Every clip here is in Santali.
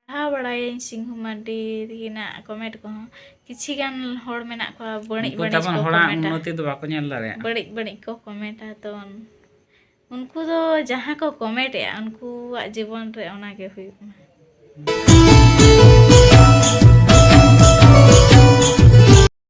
ᱯᱟᱲᱦᱟᱣ ᱵᱟᱲᱟᱭᱟᱹᱧ ᱥᱤᱝᱦᱩ ᱢᱟᱨᱰᱤ ᱛᱟᱹᱠᱤᱱᱟᱜ ᱠᱚᱢᱮᱱᱴ ᱠᱚᱦᱚᱸ ᱠᱤᱪᱷᱤ ᱜᱟᱱ ᱦᱚᱲ ᱢᱮᱱᱟᱜ ᱠᱚᱣᱟ ᱵᱟᱹᱲᱤᱡ ᱩᱱᱠᱩ ᱵᱟᱹᱲᱤᱡ ᱛᱟᱵᱚᱱ ᱠᱚ ᱦᱚᱲᱟᱜ ᱠᱚᱢᱮᱱᱴᱟ ᱩᱱᱱᱚᱛᱤ ᱫᱚ ᱵᱟᱠᱚ ᱧᱮᱞ ᱫᱟᱲᱮᱭᱟᱜᱼᱟ ᱵᱟᱹᱲᱤᱡ ᱵᱟᱹᱲᱤᱡ ᱠᱚ ᱠᱚᱢᱮᱱᱴᱟ ᱛᱚ ᱩᱱᱠᱩ ᱫᱚ ᱡᱟᱦᱟᱸ ᱠᱚ ᱠᱚᱢᱮᱱᱴᱮᱜᱼᱟ ᱩᱱᱠᱩᱣᱟᱜ ᱡᱤᱵᱚᱱ ᱨᱮ ᱚᱱᱟᱜᱮ ᱦᱩᱭᱩᱜ ᱢᱟ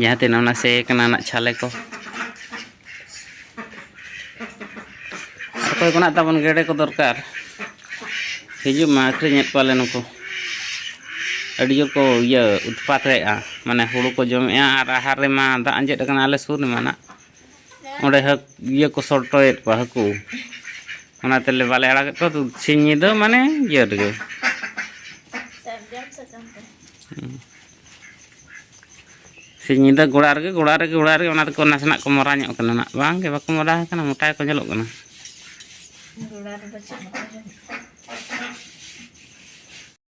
ᱡᱟᱦᱟᱸ ᱛᱤᱱᱟᱹᱜ ᱚᱱᱟ ᱥᱮᱭ ᱠᱟᱱᱟ ᱱᱟᱜ ᱪᱷᱟᱞᱮ ᱠᱚ ᱚᱠᱚᱭ ᱠᱚ ᱱᱟᱜ ᱛᱟᱵᱚᱱ ᱜᱮᱰᱮ ᱠᱚ ᱫᱚᱨᱠᱟᱨ ᱦᱤᱡᱩᱜ ᱢᱟ ᱟᱹᱠᱷᱨᱤᱧᱮᱫ ᱠᱚᱣᱟᱞᱮ ᱱᱩᱠᱩ ᱟᱹᱰᱤ ᱡᱳᱨ ᱠᱚ ᱤᱭᱟᱹ ᱩᱛᱯᱟᱛᱮᱜᱼᱟ ᱢᱟᱱᱮ ᱦᱩᱲᱩ ᱠᱚ ᱡᱚᱢᱮᱜᱼᱟ ᱟᱨ ᱟᱦᱟᱨ ᱨᱮᱢᱟ ᱫᱟᱜ ᱟᱸᱡᱮᱫ ᱟᱠᱟᱱᱟ ᱟᱞᱮ ᱥᱩᱨ ᱨᱮᱢᱟ ᱱᱟᱜ ᱚᱸᱰᱮ ᱦᱟᱹᱠ ᱤᱭᱟᱹ ᱠᱚ ᱥᱚᱴᱚᱭᱮᱫ ᱠᱚᱣᱟ ᱦᱟᱹᱠᱩ ᱚᱱᱟ ᱛᱮᱞᱮ ᱵᱟᱞᱮ ᱟᱲᱟᱜᱮᱫ ᱠᱚᱣᱟ ᱥᱤᱧ ᱧᱤᱫᱟᱹ ᱢᱟᱱᱮ ᱤᱭᱟᱹ ᱨᱮᱜᱮ ᱥᱤᱧ ᱧᱤᱫᱟᱹ ᱜᱚᱲᱟ ᱨᱮᱜᱮ ᱜᱚᱲᱟ ᱨᱮᱜᱮ ᱜᱚᱲᱟ ᱨᱮᱜᱮ ᱚᱱᱟ ᱫᱚᱠᱚ ᱱᱟᱥᱮᱱᱟᱜ ᱠᱚ ᱢᱚᱨᱟ ᱧᱚᱜ ᱠᱟᱱᱟ ᱱᱟᱜ ᱵᱟᱝ ᱜᱮ ᱵᱟᱠᱚ ᱢᱚᱨᱟ ᱟᱠᱟᱱᱟ ᱢᱚᱴᱟ ᱜᱮᱠᱚ ᱧᱮᱞᱚᱜ ᱠᱟᱱᱟ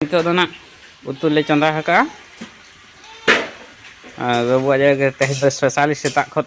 ᱱᱤᱛᱚᱜ ᱫᱚ ᱱᱟᱜ ᱩᱛᱩ ᱞᱮ ᱪᱚᱸᱫᱟ ᱟᱠᱟᱜᱼᱟ ᱟᱨ ᱵᱟᱹᱵᱩᱣᱟᱜ ᱡᱟᱭᱜᱟ ᱛᱮᱦᱮᱧ ᱫᱚ ᱥᱯᱮᱥᱟᱞᱤ ᱥᱮᱛᱟᱜ ᱠᱷᱚᱱ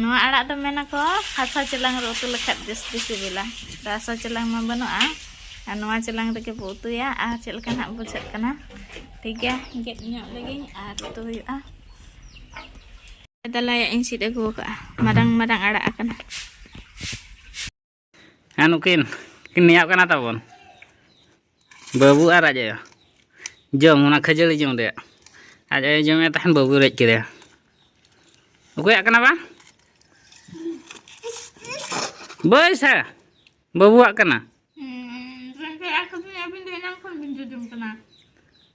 ᱱᱚᱣᱟ ᱟᱲᱟᱜ ᱫᱚ ᱢᱮᱱᱟᱠᱚ ᱦᱟᱥᱟ ᱪᱮᱞᱟᱝ ᱨᱮ ᱩᱛᱩ ᱞᱮᱠᱷᱟᱱ ᱡᱟᱹᱥᱛᱤ ᱥᱤᱵᱤᱞᱟ ᱛᱚ ᱦᱟᱥᱟ ᱪᱮᱞᱟᱝ ᱢᱟ ᱵᱟᱹᱱᱩᱜᱼᱟ ᱟᱨ ᱱᱚᱣᱟ ᱪᱮᱞᱟᱝ ᱨᱮᱜᱮ ᱵᱚ ᱩᱛᱩᱭᱟ ᱟᱨ ᱪᱮᱫ ᱞᱮᱠᱟ ᱱᱟᱜ ᱵᱩᱡᱷᱟᱹᱜ ᱠᱟᱱᱟ ᱴᱷᱤᱠ ᱜᱮᱭᱟ ᱜᱮᱫ ᱧᱚᱜ ᱞᱮᱜᱤᱧ ᱟᱨ ᱩᱛᱩ ᱦᱩᱭᱩᱜᱼᱟ ᱫᱟᱞᱟᱭᱟᱜ ᱤᱧ ᱥᱤᱫ ᱟᱹᱜᱩ ᱟᱠᱟᱫᱼᱟ ᱢᱟᱨᱟᱝ ᱢᱟᱨᱟᱝ ᱟᱲᱟᱜ ᱟᱠᱟᱱᱟ ᱦᱮᱸ ᱱᱩᱠᱤᱱ ᱠᱤᱱ ᱱᱮᱭᱟᱜ ᱠᱟᱱᱟ ᱛᱟᱵᱚᱱ ᱵᱟᱹᱵᱩ ᱟᱨ ᱟᱡ ᱟᱭᱳ ᱡᱚᱢ ᱚᱱᱟ ᱠᱷᱟᱹᱡᱟᱹᱲᱤ ᱡᱚᱢ ᱨᱮᱭᱟᱜ ᱟᱡ ᱟᱭᱳ ᱡᱚᱢᱮᱫ ᱛᱟᱦᱮᱱ ᱵᱟᱹᱵᱩ ᱨᱮᱡ ᱠᱮᱫᱮᱭᱟ ᱚᱠᱚᱭᱟᱜ ᱠᱟᱱᱟ ᱵᱟᱝ ᱵᱟᱹᱭ ᱥᱮ ᱵᱟᱹᱵᱩᱣᱟᱜ ᱠᱟᱱᱟ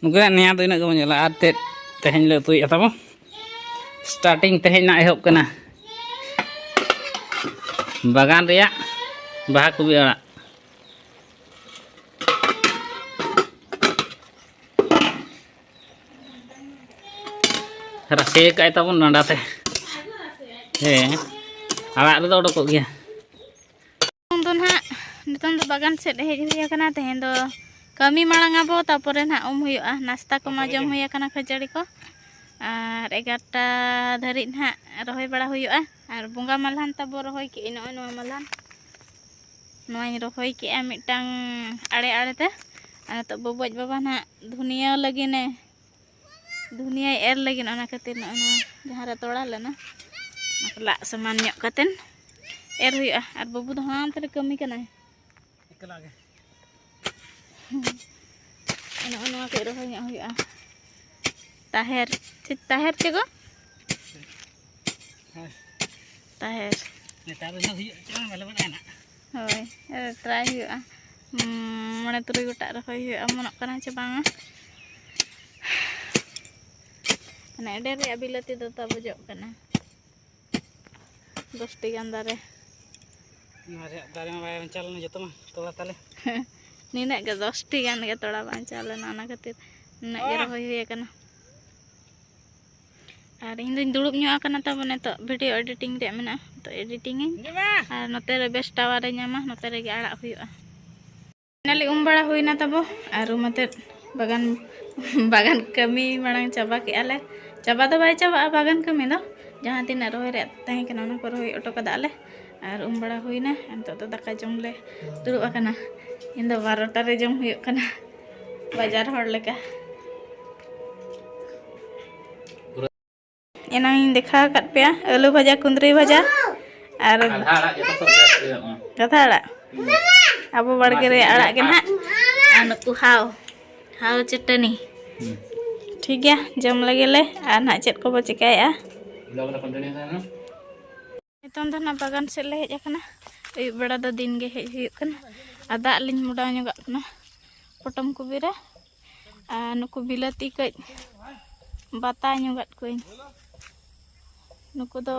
ᱱᱩᱠᱩᱱᱟᱜ ᱱᱮᱭᱟ ᱫᱚ ᱤᱱᱟᱹᱜ ᱜᱮᱵᱚᱱ ᱧᱮᱞᱟ ᱟᱨ ᱛᱮᱫ ᱛᱮᱦᱮᱧ ᱞᱮ ᱩᱛᱩᱭᱮᱫᱼᱟ ᱛᱟᱵᱚ ᱥᱴᱟᱨᱴᱤᱝ ᱛᱮᱦᱮᱧ ᱱᱟᱜ ᱮᱦᱚᱵ ᱠᱟᱱᱟ ᱵᱟᱜᱟᱱ ᱨᱮᱭᱟᱜ ᱵᱟᱦᱟ ᱠᱚᱵᱤ ᱟᱲᱟᱜ ᱨᱟᱥᱮ ᱠᱟᱜ ᱛᱟᱵᱚᱱ ᱰᱟᱸᱰᱟ ᱛᱮ ᱦᱮᱸ ᱟᱲᱟᱜ ᱨᱮᱫᱚ ᱚᱰᱚᱠᱚᱜ ᱜᱮᱭᱟ ᱱᱤᱛᱚᱝ ᱫᱚ ᱱᱟᱦᱟᱜ ᱱᱤᱛᱚᱝ ᱫᱚ ᱵᱟᱜᱟᱱ ᱥᱮᱫ ᱦᱮᱡ ᱦᱩᱭ ᱟᱠᱟᱱᱟ ᱛᱮᱦᱮᱧ ᱫᱚ ᱠᱟᱹᱢᱤ ᱢᱟᱲᱟᱝ ᱟᱵᱚ ᱛᱟᱯᱚᱨᱮ ᱱᱟᱦᱟᱜ ᱩᱢ ᱦᱩᱭᱩᱜᱼᱟ ᱱᱟᱥᱛᱟ ᱠᱚᱢᱟ ᱡᱚᱢ ᱦᱩᱭ ᱟᱠᱟᱱᱟ ᱠᱷᱟᱹᱡᱟᱹᱲᱤ ᱠᱚ ᱟᱨ ᱮᱜᱟᱨᱚᱴᱟ ᱫᱷᱟᱹᱨᱤᱡ ᱱᱟᱦᱟᱜ ᱨᱚᱦᱚᱭ ᱵᱟᱲᱟ ᱦᱩᱭᱩᱜᱼᱟ ᱟᱨ ᱵᱚᱸᱜᱟ ᱢᱟᱞᱦᱟᱱ ᱛᱟᱵᱚ ᱨᱚᱦᱚᱭ ᱠᱮᱜᱼᱟ ᱱᱚᱜᱼᱚᱭ ᱱᱚᱣᱟ ᱢᱟᱞᱦᱟᱱ ᱱᱚᱣᱟᱧ ᱨᱚᱦᱚᱭ ᱠᱮᱜᱼᱟ ᱢᱤᱫᱴᱟᱝ ᱟᱲᱮ ᱟᱲᱮᱛᱮ ᱟᱨ ᱱᱤᱛᱚᱜ ᱵᱚᱵᱚᱡ ᱵᱟᱵᱟ ᱱᱟᱦᱟᱜ ᱫᱷᱩᱱᱤᱭᱟᱹ ᱞᱟᱹᱜᱤᱫ ᱮ ᱫᱷᱩᱱᱤᱭᱟᱹᱭ ᱮᱨ ᱞᱟᱹᱜᱤᱫ ᱚᱱᱟ ᱠᱷᱟᱹᱛᱤᱨ ᱱᱚᱜᱼᱚᱭ ᱱᱚᱣᱟ ᱡᱟᱦᱟᱸ ᱨᱮ ᱛᱚᱲᱟ ᱞᱮᱱᱟ ᱚᱱᱟ ᱠᱚ ᱞᱟᱜ ᱥᱚᱢᱟᱱ ᱧᱚᱜ ᱠᱟᱛᱮᱫ ᱮᱨ ᱦᱩᱭᱩᱜᱼᱟ ᱟᱨ ᱵᱟᱹᱵᱩ ᱫᱚ ᱦᱟᱱᱛᱮ ᱨᱮ ᱠᱟᱹᱢᱤ ᱠᱟᱱᱟᱭ ᱮᱠᱞᱟ ᱜᱮ ᱱᱚᱜᱼᱚᱭ ᱱᱚᱣᱟ ᱠᱚ ᱨᱚᱦᱚᱭ ᱧᱚᱜ ᱦᱩᱭᱩᱜᱼᱟ ᱛᱟᱦᱮᱨ ᱪᱮᱫ ᱛᱟᱦᱮᱨ ᱪᱮ ᱜᱚ ᱛᱟᱦᱮᱨ ᱱᱮᱛᱟᱨ ᱫᱚ ᱦᱩᱭᱩᱜ ᱪᱮᱫ ᱵᱟᱞᱮ ᱵᱟᱲᱟᱭᱟ ᱱᱟᱜ ᱦᱳᱭ ᱴᱨᱟᱭ ᱦᱩᱭᱩᱜᱼᱟ ᱢᱚᱬᱮ ᱛᱩᱨᱩᱭ ᱜᱚᱴᱟᱜ ᱨᱚᱦᱚᱭ ᱦᱩᱭᱩᱜᱼᱟ ᱚᱢᱚᱱᱚᱜ ᱠᱟᱱᱟ ᱪᱮ ᱵᱟᱝᱟ ᱢᱟᱱᱮ ᱟᱹᱰᱤ ᱨᱮᱭᱟᱜ ᱵᱤᱞᱟᱹᱛᱤ ᱫᱚ ᱛᱟᱵᱩᱡᱚᱜ ᱠᱟᱱᱟ ᱫᱚᱥᱴᱤ ᱜᱟᱱ ᱫᱟᱨᱮ ᱱᱚᱣᱟ ᱨᱮᱭᱟᱜ ᱫᱟᱨᱮ ᱢᱟ ᱵᱟᱭ ᱵᱟᱧᱪᱟᱣ ᱞᱮᱱᱟ ᱡᱚᱛᱚ ᱢᱟ ᱛᱚᱲᱟ ᱛᱟᱞᱮ ᱱᱤᱱᱟᱹᱜ ᱜᱮ ᱫᱚᱥᱴᱤ ᱜᱟᱱ ᱜᱮ ᱛᱚᱲᱟ ᱵᱟᱧᱪᱟᱣ ᱞᱮᱱᱟ ᱚᱱᱟ ᱠᱷᱟᱹᱛᱤᱨ ᱱᱤᱱᱟᱹᱜ ᱜᱮ ᱨᱚᱦᱚᱭ ᱦᱩᱭ ᱟᱠᱟᱱᱟ ᱟᱨ ᱤᱧ ᱫᱚᱧ ᱫᱩᱲᱩᱵ ᱧᱚᱜ ᱟᱠᱟᱱᱟ ᱛᱟᱵᱚ ᱱᱤᱛᱚᱜ ᱵᱷᱤᱰᱤᱭᱳ ᱮᱰᱤᱴᱤᱝ ᱨᱮᱭᱟᱜ ᱢᱮᱱᱟᱜᱼᱟ ᱛᱚ ᱮᱰᱤᱴᱤᱝ ᱤᱧ ᱟᱨ ᱱᱚᱛᱮ ᱨᱮ ᱵᱮᱥ ᱴᱟᱣᱟᱨ ᱮ ᱧᱟᱢᱟ ᱱᱚᱛᱮ ᱨᱮᱜᱮ ᱟᱲᱟᱜ ᱦᱩᱭᱩᱜᱼᱟ ᱱᱟᱞᱮ ᱩᱢ ᱵᱟᱲᱟ ᱦᱩᱭᱱᱟ ᱛᱟᱵᱚ ᱟᱨ ᱩᱢ ᱟᱛᱮᱫ ᱵᱟᱜᱟᱱ ᱵᱟᱜᱟᱱ ᱠᱟᱹᱢᱤ ᱢᱟᱲᱟᱝ ᱪᱟᱵᱟ ᱠᱮᱜᱼᱟ ᱞᱮ ᱪᱟᱵᱟ ᱫᱚ ᱵᱟᱭ ᱪᱟᱵᱟᱜᱼᱟ ᱵᱟᱜᱟᱱ ᱠᱟᱹᱢᱤ ᱫᱚ ᱡᱟᱦᱟᱸ ᱛᱤᱱᱟᱹᱜ ᱨᱚᱦᱚᱭ ᱨᱮᱭᱟᱜ ᱛᱟᱦᱮᱸ ᱠᱟᱱᱟ ᱚᱱᱟ ᱠᱚ ᱨᱚᱦᱚᱭ ᱚᱴᱚ ᱠᱟᱫᱟ ᱞᱮ ᱟᱨ ᱩᱢ ᱵᱟᱲᱟ ᱦᱩᱭᱱᱟ ᱱᱤᱛᱚᱜ ᱫᱚ ᱫᱟᱠᱟ ᱡᱚᱢ ᱞᱮ ᱫᱩᱲᱩᱵ ᱟᱠᱟᱱᱟ ᱤᱧ ᱫᱚ ᱵᱟᱨᱚᱴᱟ ᱨᱮ ᱡᱚᱢ ᱦᱩᱭᱩᱜ ᱠᱟᱱᱟ ᱵᱟᱡᱟᱨ ᱦᱚᱲ ᱞᱮᱠᱟ ᱮᱱᱟᱝ ᱤᱧ ᱫᱮᱠᱷᱟᱣ ᱟᱠᱟᱫ ᱯᱮᱭᱟ ᱟᱹᱞᱩ ᱵᱷᱟᱡᱟ ᱠᱩᱸᱫᱽᱨᱤ ᱵᱷᱟᱡᱟ ᱟᱨ ᱠᱟᱛᱷᱟ ᱟᱲᱟᱜ ᱟᱵᱚ ᱵᱟᱲᱜᱮ ᱨᱮ ᱟᱲᱟᱜ ᱜᱮ ᱱᱟᱦᱟᱜ ᱟᱨ ᱱᱩᱠᱩ ᱦᱟᱣ ᱦᱟᱣ ᱪᱟᱹᱴᱟᱹᱱᱤ ᱴᱷᱤᱠ ᱜᱮᱭᱟ ᱡᱚᱢ ᱞᱟᱹᱜᱤᱫ ᱞᱮ ᱟᱨ ᱱᱟᱦᱟᱜ ᱪᱮᱫ ᱠᱚᱵᱚ ᱪᱮᱠᱟᱭᱮᱫᱼᱟ ᱱᱤᱛᱚᱝ ᱫᱚ ᱱᱟᱜ ᱵᱟᱜᱟᱱ ᱥᱮᱫ ᱞᱮ ᱦᱮᱡ ᱟᱠᱟᱱᱟ ᱟᱹᱭᱩᱵ ᱵᱮᱲᱟ ᱫᱚ ᱫᱤᱱ ᱜᱮ ᱦᱮᱡ ᱦᱩᱭᱩᱜ ᱠᱟᱱᱟ ᱟᱨ ᱫᱟᱜ ᱞᱤᱧ ᱢᱚᱰᱟᱣ ᱧᱚᱜᱟᱜ ᱠᱟᱱᱟ ᱯᱚᱴᱚᱢ ᱠᱚᱵᱤᱨᱟ ᱟᱨ ᱱᱩᱠᱩ ᱵᱤᱞᱟᱹᱛᱤ ᱠᱟᱹᱡ ᱵᱟᱛᱟ ᱧᱚᱜᱟᱫ ᱠᱚᱣᱟᱹᱧ ᱱᱩᱠᱩ ᱫᱚ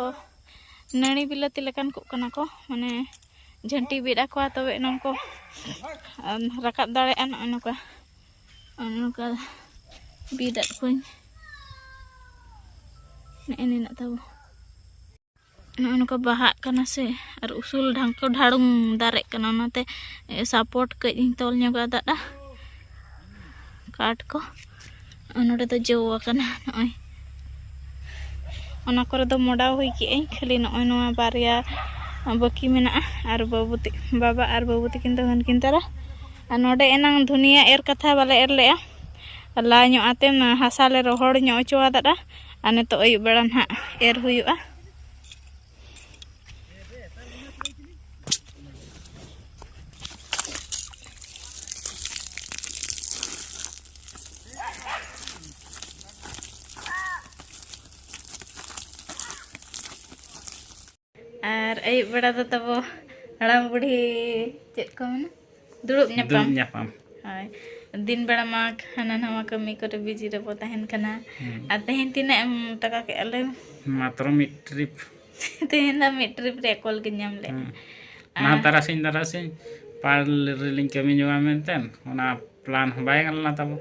ᱱᱟᱹᱲᱤ ᱵᱤᱞᱟᱹᱛᱤ ᱞᱮᱠᱟᱱ ᱠᱚᱜ ᱠᱟᱱᱟ ᱠᱚ ᱢᱟᱱᱮ ᱡᱷᱟᱹᱱᱴᱤ ᱵᱤᱫ ᱟᱠᱚᱣᱟ ᱛᱚᱵᱮ ᱮᱱᱟᱝ ᱠᱚ ᱨᱟᱠᱟᱵ ᱫᱟᱲᱮᱭᱟᱜᱼᱟ ᱱᱚᱜᱼᱚᱭ ᱱᱚᱝᱠᱟ ᱱᱚᱝᱠᱟ ᱵᱤᱫ ᱟᱫ ᱠᱚᱣᱟᱹᱧ ᱱᱮᱜᱼᱮ ᱱᱤᱱᱟᱹᱜ ᱛᱟᱵᱚ ᱱᱚᱜᱼᱚ ᱱᱚᱝᱠᱟ ᱵᱟᱦᱟᱜ ᱠᱟᱱᱟ ᱥᱮ ᱟᱨ ᱩᱥᱩᱞ ᱰᱷᱟᱝᱠᱚ ᱰᱷᱟᱲᱩᱝ ᱫᱟᱨᱮᱜ ᱠᱟᱱᱟ ᱚᱱᱟᱛᱮ ᱥᱟᱯᱳᱨᱴ ᱠᱟᱹᱡ ᱤᱧ ᱛᱚᱞ ᱧᱚᱜ ᱟᱫᱟᱜᱼᱟ ᱠᱟᱴ ᱠᱚ ᱱᱚᱰᱮ ᱫᱚ ᱡᱚ ᱟᱠᱟᱱᱟ ᱱᱚᱜᱼᱚᱭ ᱚᱱᱟ ᱠᱚᱨᱮ ᱫᱚ ᱢᱚᱰᱟᱣ ᱦᱩᱭ ᱠᱮᱜ ᱟᱹᱧ ᱠᱷᱟᱹᱞᱤ ᱱᱚᱜᱼᱚᱭ ᱱᱚᱣᱟ ᱵᱟᱨᱭᱟ ᱵᱟᱹᱠᱤ ᱢᱮᱱᱟᱜᱼᱟ ᱟᱨ ᱵᱟᱹᱵᱩ ᱵᱟᱵᱟ ᱟᱨ ᱵᱟᱹᱵᱩ ᱛᱤᱠᱤᱱ ᱫᱚ ᱦᱟᱹᱱᱠᱤᱱ ᱛᱟᱨᱟ ᱟᱨ ᱱᱚᱰᱮ ᱮᱱᱟᱝ ᱫᱷᱩᱱᱤᱭᱟᱹ ᱮᱨ ᱠᱟᱛᱷᱟ ᱵᱟᱞᱮ ᱮᱨ ᱞᱮᱜᱼᱟ ᱞᱟ ᱧᱚᱜ ᱟᱛᱮ ᱦᱟᱥᱟ ᱞᱮ ᱨᱚᱦᱚᱲ ᱧᱚᱜ ᱦᱚᱪᱚ ᱟᱫᱟ ᱟᱨ ᱱᱤᱛᱚᱜ ᱟᱹᱭᱩᱵ ᱵᱮᱲᱟ ᱱᱟᱦᱟᱜ ᱮᱨ ᱦᱩᱭᱩᱜᱼᱟ ᱟᱨ ᱟᱹᱭᱩᱵ ᱵᱮᱲᱟ ᱫᱚ ᱛᱟᱵᱚ ᱦᱟᱲᱟᱢ ᱵᱩᱲᱦᱤ ᱪᱮᱫ ᱠᱚ ᱢᱮᱱᱟ ᱫᱩᱲᱩᱵ ᱧᱟᱯᱟᱢ ᱧᱟᱯᱟᱢ ᱦᱳᱭ ᱫᱤᱱ ᱵᱮᱲᱟ ᱢᱟ ᱦᱟᱱᱟ ᱱᱟᱣᱟ ᱠᱟᱹᱢᱤ ᱠᱚᱨᱮ ᱵᱤᱡᱤ ᱨᱮᱵᱚ ᱛᱟᱦᱮᱱ ᱠᱟᱱᱟ ᱟᱨ ᱛᱮᱦᱮᱧ ᱛᱤᱱᱟᱹᱜ ᱮᱢ ᱴᱟᱠᱟ ᱠᱮᱜᱼᱟ ᱞᱟᱹᱭ ᱢᱟᱛᱨᱚ ᱢᱤᱫ ᱴᱨᱤᱯ ᱛᱮᱦᱮᱧ ᱫᱚ ᱢᱤᱫ ᱴᱨᱤᱯ ᱨᱮ ᱠᱚᱞ ᱜᱮ ᱧᱟᱢ ᱞᱮᱫ ᱚᱱᱟ ᱛᱟᱨᱟᱥᱤᱧ ᱛᱟᱨᱟᱥᱤᱧ ᱯᱟᱲ ᱨᱮᱞᱤᱧ ᱠᱟᱹᱢᱤ ᱧᱚᱜᱟ ᱢᱮᱱᱛᱮ ᱚᱱᱟ ᱯᱞᱟᱱ ᱦᱚᱸ ᱵᱟᱭ ᱜᱟᱱ ᱞᱮᱱᱟ ᱛᱟᱵᱚ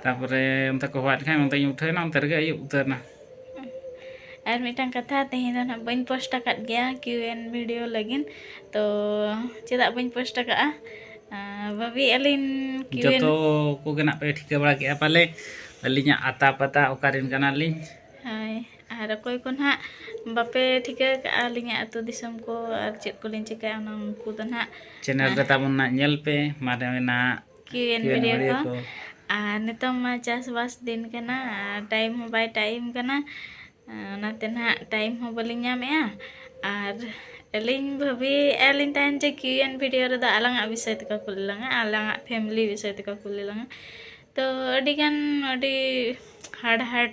ᱛᱟᱨᱯᱚᱨᱮ ᱚᱱᱛᱮ ᱠᱚ ᱦᱚᱦᱚᱣᱟᱫ ᱠᱷᱟᱱ ᱚᱱᱛᱮᱧ ᱩᱴᱷᱟᱹᱣᱮᱱᱟ ᱚᱱᱛᱮ ᱨᱮᱜᱮ ᱟᱹᱭᱩᱵ ᱩᱛᱟᱹᱨᱮᱱᱟ ᱟᱨ ᱢᱤᱫᱴᱟᱝ ᱠᱟᱛᱷᱟ ᱛᱮᱦᱮᱧ ᱫᱚ ᱱᱟᱦᱟᱜ ᱵᱟᱹᱧ ᱯᱳᱥᱴ ᱟᱠᱟᱫ ᱜᱮᱭᱟ ᱠᱤᱭᱩ ᱮᱱ ᱵᱷᱤᱰᱤᱭᱳ ᱞᱟᱹᱜᱤᱫ ᱛᱚ ᱪᱮᱫᱟᱜ ᱵᱟᱹᱧ ᱯᱳᱥᱴ ᱟᱠᱟᱫᱼᱟ ᱵᱷᱟᱹᱵᱤ ᱟᱹᱞᱤᱧ ᱠᱤᱭᱩ ᱮᱱ ᱡᱚᱛᱚ ᱠᱚᱜᱮ ᱱᱟᱜ ᱯᱮ ᱴᱷᱤᱠᱟᱹ ᱵᱟᱲᱟ ᱠᱮᱫᱼᱟ ᱯᱟᱞᱮ ᱟᱹᱞᱤᱧᱟᱜ ᱟᱛᱟ ᱯᱟᱛᱟ ᱚᱠᱟᱨᱮᱱ ᱠᱟᱱᱟᱞᱤᱧ ᱦᱳᱭ ᱟᱨ ᱚᱠᱚᱭ ᱠᱚ ᱱᱟᱦᱟᱜ ᱵᱟᱯᱮ ᱴᱷᱤᱠᱟᱹ ᱠᱟᱜᱼᱟ ᱟᱹᱞᱤᱧᱟᱜ ᱟᱹᱛᱩ ᱫᱤᱥᱚᱢ ᱠᱚ ᱟᱨ ᱪᱮᱫ ᱠᱚᱞᱤᱧ ᱪᱤᱠᱟᱹᱭᱟ ᱚᱱᱟ ᱩᱱᱠᱩ ᱫᱚ ᱱᱟᱦᱟᱜ ᱪᱮᱱᱮᱞ ᱨᱮ ᱛᱟᱵᱚᱱ ᱱᱟᱜ ᱧᱮᱞ ᱯᱮ ᱢᱟᱨᱮᱱᱟᱜ ᱠᱤᱣᱮᱱ ᱵᱷᱤᱰᱤᱭᱳ ᱠᱚ ᱟᱨ ᱱᱤᱛᱚᱝ ᱢᱟ ᱪᱟᱥᱵᱟᱥ ᱫᱤᱱ ᱠᱟᱱᱟ ᱟᱨ ᱴᱟᱭᱤᱢ ᱦᱚᱸ ᱵᱟᱭ ᱴᱟᱭᱤᱢ ᱠᱟᱱᱟ ᱚᱱᱟᱛᱮ ᱱᱟᱦᱟᱜ ᱴᱟᱭᱤᱢ ᱦᱚᱸ ᱵᱟᱹᱞᱤᱧ ᱧᱟᱢᱮᱜᱼᱟ ᱟᱨ ᱟᱹᱞᱤᱧ ᱵᱷᱟᱹᱵᱤᱭᱮᱫᱼᱟ ᱞᱤᱧ ᱛᱟᱦᱮᱱ ᱡᱮ ᱠᱤᱣᱮᱱ ᱵᱷᱤᱰᱤᱭᱳ ᱨᱮᱫᱚ ᱟᱞᱟᱝᱟᱜ ᱵᱤᱥᱚᱭ ᱛᱮᱠᱚ ᱠᱩᱞᱤ ᱞᱟᱝᱟ ᱟᱞᱟᱝᱟᱜ ᱯᱷᱮᱢᱞᱤ ᱵᱤᱥᱚᱭ ᱛᱮᱠᱚ ᱠᱩᱞᱤ ᱞᱟᱝᱟ ᱛᱚ ᱟᱹᱰᱤᱜᱟᱱ ᱟᱹᱰᱤ ᱦᱟᱲᱦᱟᱫ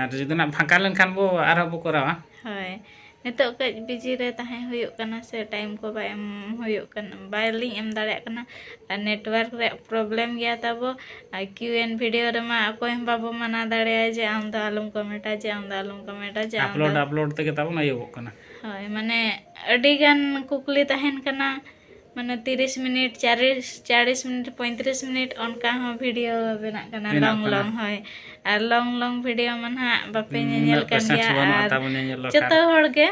ᱟᱨ ᱡᱩᱫᱤ ᱱᱟᱜ ᱯᱷᱟᱸᱠᱟ ᱞᱮᱱᱠᱷᱟᱱ ᱵᱚ ᱟᱨᱦᱚᱸ ᱵᱚ ᱠᱚᱨᱟᱣᱟ ᱦᱳᱭ ᱱᱤᱛᱚᱜ ᱠᱟᱹᱡ ᱵᱤᱡᱤ ᱨᱮ ᱛᱟᱦᱮᱸ ᱦᱩᱭᱩᱜ ᱠᱟᱱᱟ ᱥᱮ ᱴᱟᱭᱤᱢ ᱠᱚ ᱵᱟᱭ ᱮᱢ ᱦᱩᱭᱩᱜ ᱠᱟᱱᱟ ᱵᱟᱭᱞᱤᱧ ᱮᱢ ᱫᱟᱲᱮᱭᱟᱜ ᱠᱟᱱᱟ ᱟᱨ ᱱᱮᱴᱣᱟᱨᱠ ᱨᱮᱭᱟᱜ ᱯᱨᱚᱵᱞᱮᱢ ᱜᱮᱭᱟ ᱛᱟᱵᱚ ᱟᱨ ᱠᱤᱭᱩ ᱮᱱ ᱵᱷᱤᱰᱤᱭᱳ ᱨᱮᱢᱟ ᱚᱠᱚᱭ ᱦᱚᱸ ᱵᱟᱵᱚ ᱢᱟᱱᱟ ᱫᱟᱲᱮᱭᱟᱭᱟ ᱡᱮ ᱟᱢ ᱫᱚ ᱟᱞᱚᱢ ᱠᱚᱢᱮᱱᱴᱟ ᱡᱮ ᱟᱢ ᱫᱚ ᱟᱞᱚᱢ ᱠᱚᱢᱮᱱᱴᱟ ᱡᱮ ᱟᱢ ᱫᱚ ᱟᱯᱞᱳᱰ ᱟᱯᱞᱳᱰ ᱛᱮᱜᱮ ᱛᱟᱵᱚᱱ ᱟᱹᱭᱩᱵᱚᱜ ᱠᱟᱱᱟ ᱦᱳᱭ ᱢᱟᱱᱮ ᱟᱹᱰᱤ ᱜᱟᱱ ᱠᱩᱠᱞᱤ ᱛᱟᱦᱮᱱ ᱠᱟᱱᱟ ᱢᱟᱱᱮ ᱛᱤᱨᱤᱥ ᱢᱤᱱᱤᱴ ᱪᱟᱨᱤᱥ ᱪᱟᱲᱤᱥ ᱢᱤᱱᱤᱴ ᱯᱚᱸᱭᱛᱨᱤᱥ ᱢᱤᱱᱤᱴ ᱚᱱᱠᱟ ᱦᱚᱸ ᱵᱷᱤᱰᱤᱭᱳ ᱵᱮᱱᱟᱜ ᱠᱟᱱᱟ ᱵᱮᱱᱟᱜ ᱞᱚᱝ ᱠᱟᱱᱟ᱾ ᱞᱚᱝ ᱦᱳᱭ ᱟᱨ ᱞᱚᱝ ᱞᱚᱝ ᱵᱷᱤᱰᱤᱭᱳ ᱢᱟ ᱱᱟᱦᱟᱜ ᱵᱟᱯᱮ ᱧᱮᱧᱮᱞ ᱩᱱᱟᱹᱜ ᱠᱟᱱ ᱯᱮᱥᱮᱱᱥ ᱜᱮᱭᱟ ᱵᱟᱹᱱᱩᱜᱼᱟ ᱟᱨ ᱛᱟᱵᱚᱱ ᱧᱮᱧᱮᱞ ᱵᱟᱠᱷᱨᱟ ᱡᱚᱛᱚ ᱦᱚᱲ ᱜᱮ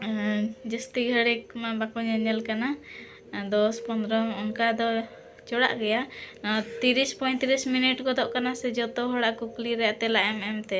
ᱟᱸ, ᱡᱟᱹᱥᱛᱤ ᱜᱷᱟᱹᱲᱤᱡ ᱢᱟ ᱵᱟᱠᱚ ᱧᱮᱧᱮᱞ ᱠᱟᱱᱟ ᱟᱸ, ᱫᱚᱥ ᱯᱚᱱᱨᱚ ᱚᱱᱠᱟ ᱫᱚ ᱪᱚᱲᱟᱜ ᱜᱮᱭᱟ ᱟᱸ, ᱛᱤᱨᱤᱥ ᱯᱚᱸᱭᱛᱨᱤᱥ ᱢᱤᱱᱤᱴ ᱜᱚᱫᱚᱜ ᱠᱟᱱᱟ ᱥᱮ ᱡᱚᱛᱚ ᱦᱚᱲᱟᱜ ᱠᱩᱠᱞᱤ ᱨᱮᱭᱟᱜ ᱛᱮᱞᱟ ᱮᱢ ᱮᱢᱛᱮ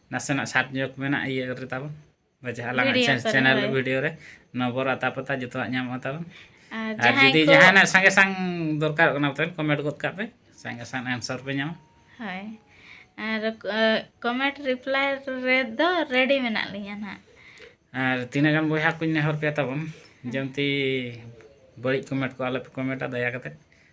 ᱱᱟᱥᱮᱱᱟᱜ ᱥᱟᱴ ᱧᱚᱜ ᱢᱮᱱᱟᱜᱼᱟ ᱤᱭᱟᱹ ᱨᱮ ᱛᱟᱵᱚᱱ ᱵᱟᱡᱟ ᱟᱞᱟᱝ ᱪᱮᱱᱮᱞ ᱵᱷᱤᱰᱤᱭᱳ ᱨᱮ ᱱᱚᱵᱚᱨ ᱟᱛᱟ ᱯᱟᱛᱟ ᱡᱚᱛᱚᱣᱟᱜ ᱧᱟᱢᱚᱜᱼᱟ ᱛᱟᱵᱚᱱ ᱟᱨ ᱡᱩᱫᱤ ᱡᱟᱦᱟᱱᱟᱜ ᱥᱟᱸᱜᱮ ᱥᱟᱝ ᱫᱚᱨᱠᱟᱨᱚᱜ ᱠᱟᱱᱟ ᱛᱟᱦᱚᱞᱮ ᱠᱚᱢᱮᱱᱴ ᱜᱚᱫ ᱠᱟᱜ ᱯᱮ ᱥᱟᱸᱜᱮ ᱥᱟᱝ ᱟᱱᱥᱟᱨ ᱯᱮ ᱧᱟᱢᱟ ᱦᱳᱭ ᱟᱨ ᱠᱚᱢᱮᱱᱴ ᱨᱤᱯᱞᱟᱭ ᱨᱮᱫᱚ ᱨᱮᱰᱤ ᱢᱮᱱᱟᱜ ᱞᱤᱧᱟ ᱱᱟᱜ ᱟᱨ ᱛᱤᱱᱟᱹᱜ ᱜᱟᱱ ᱵᱚᱭᱦᱟ ᱠᱚᱧ ᱱᱮᱦᱚᱨ ᱯᱮᱭᱟ ᱛᱟᱵᱚᱱ ᱡᱮᱢᱛᱤ ᱵᱟᱹᱲᱤᱡ ᱠᱚᱢᱮᱱᱴ ᱠᱚ ᱟᱞᱚᱯᱮ ᱠᱚᱢᱮᱱᱴᱟ ᱫᱟᱭᱟ ᱠᱟᱛᱮᱫ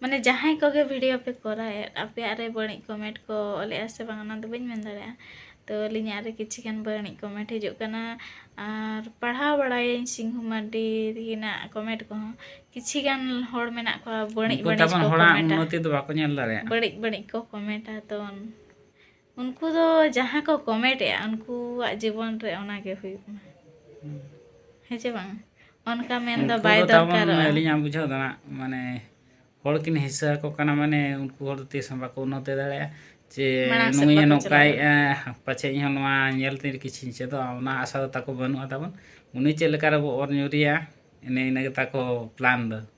ᱢᱟᱱᱮ ᱡᱟᱦᱟᱸᱭ ᱠᱚᱜᱮ ᱵᱷᱤᱰᱤᱭᱳ ᱯᱮ ᱠᱚᱨᱟᱣᱮᱫ ᱟᱯᱮᱭᱟᱜ ᱨᱮ ᱵᱟᱹᱲᱤᱡ ᱠᱚᱢᱮᱱᱴ ᱠᱚ ᱚᱞᱮᱜᱼᱟ ᱥᱮ ᱵᱟᱝ ᱚᱱᱟ ᱫᱚ ᱵᱟᱹᱧ ᱢᱮᱱ ᱫᱟᱲᱮᱭᱟᱜᱼᱟ ᱛᱚ ᱟᱹᱞᱤᱧᱟᱜ ᱨᱮ ᱠᱤᱪᱷᱩ ᱜᱟᱱ ᱵᱟᱹᱲᱤᱡ ᱠᱚᱢᱮᱱᱴ ᱦᱤᱡᱩᱜ ᱠᱟᱱᱟ ᱟᱨ ᱯᱟᱲᱦᱟᱣ ᱵᱟᱲᱟᱭᱟᱹᱧ ᱥᱤᱝᱦᱩ ᱢᱟᱨᱰᱤ ᱛᱟᱹᱠᱤᱱᱟᱜ ᱠᱚᱢᱮᱱᱴ ᱠᱚᱦᱚᱸ ᱠᱤᱪᱷᱩ ᱜᱟᱱ ᱦᱚᱲ ᱢᱮᱱᱟᱜ ᱠᱚᱣᱟ ᱵᱟᱹᱲᱤᱡ ᱵᱟᱹᱲᱤᱡ ᱠᱚ ᱠᱚᱢᱮᱱᱴᱟ ᱵᱟᱹᱲᱤᱡ ᱵᱟᱹᱲᱤᱡ ᱠᱚ ᱠᱚᱢᱮᱱᱴᱟ ᱛᱚ ᱩᱱᱠᱩ ᱫᱚ ᱡᱟᱦᱟᱸ ᱠᱚ ᱠᱚᱢᱮᱴ ᱮᱫᱟ ᱩᱱᱠᱩᱣᱟᱜ ᱡᱤᱵᱚᱱ ᱨᱮ ᱚᱱᱟ ᱜᱮ ᱦᱩᱭᱩᱜ ᱢᱟ ᱦᱮᱸ ᱪᱮ ᱵᱟᱝ ᱚᱱᱠᱟ ᱢᱮᱱ ᱫᱚ ᱵᱟᱭ ᱫᱚᱨᱠᱟᱨᱚᱜᱼᱟ ᱟᱹᱞᱤᱧᱟᱜ ᱵᱩᱡᱷᱟᱹᱣ ᱫᱚ ᱢᱟᱱᱮ ᱦᱚᱲ ᱠᱤᱱ ᱦᱤᱥᱟᱹ ᱟᱠᱚ ᱠᱟᱱᱟ ᱢᱟᱱᱮ ᱩᱱᱠᱩ ᱦᱚᱲ ᱛᱤᱥ ᱦᱚᱸ ᱵᱟᱠᱚ ᱩᱱᱱᱚᱛᱤ ᱫᱟᱲᱮᱭᱟᱜᱼᱟ ᱡᱮ ᱱᱩᱭᱮ ᱱᱚᱝᱠᱟᱭᱮᱫᱼᱟ ᱯᱟᱪᱮᱫ ᱤᱧ ᱦᱚᱸ ᱱᱚᱣᱟ ᱧᱮᱞ ᱛᱮ ᱠᱤᱪᱷᱩᱧ ᱪᱮᱫᱚᱜᱼᱟ ᱚᱱᱟ ᱟᱥᱟ ᱫᱚ ᱛᱟᱠᱚ ᱵᱟᱹᱱᱩᱜᱼᱟ ᱛᱟᱵᱚᱱ ᱩᱱᱤ ᱪᱮᱫ ᱞᱮᱠᱟ ᱨᱮᱵᱚ ᱚᱨ ᱧᱩᱨᱮᱭᱟ ᱮᱱᱮ ᱤᱱᱟᱹ ᱜᱮᱛᱟ ᱠᱚ ᱯᱞᱟᱱ ᱫᱚ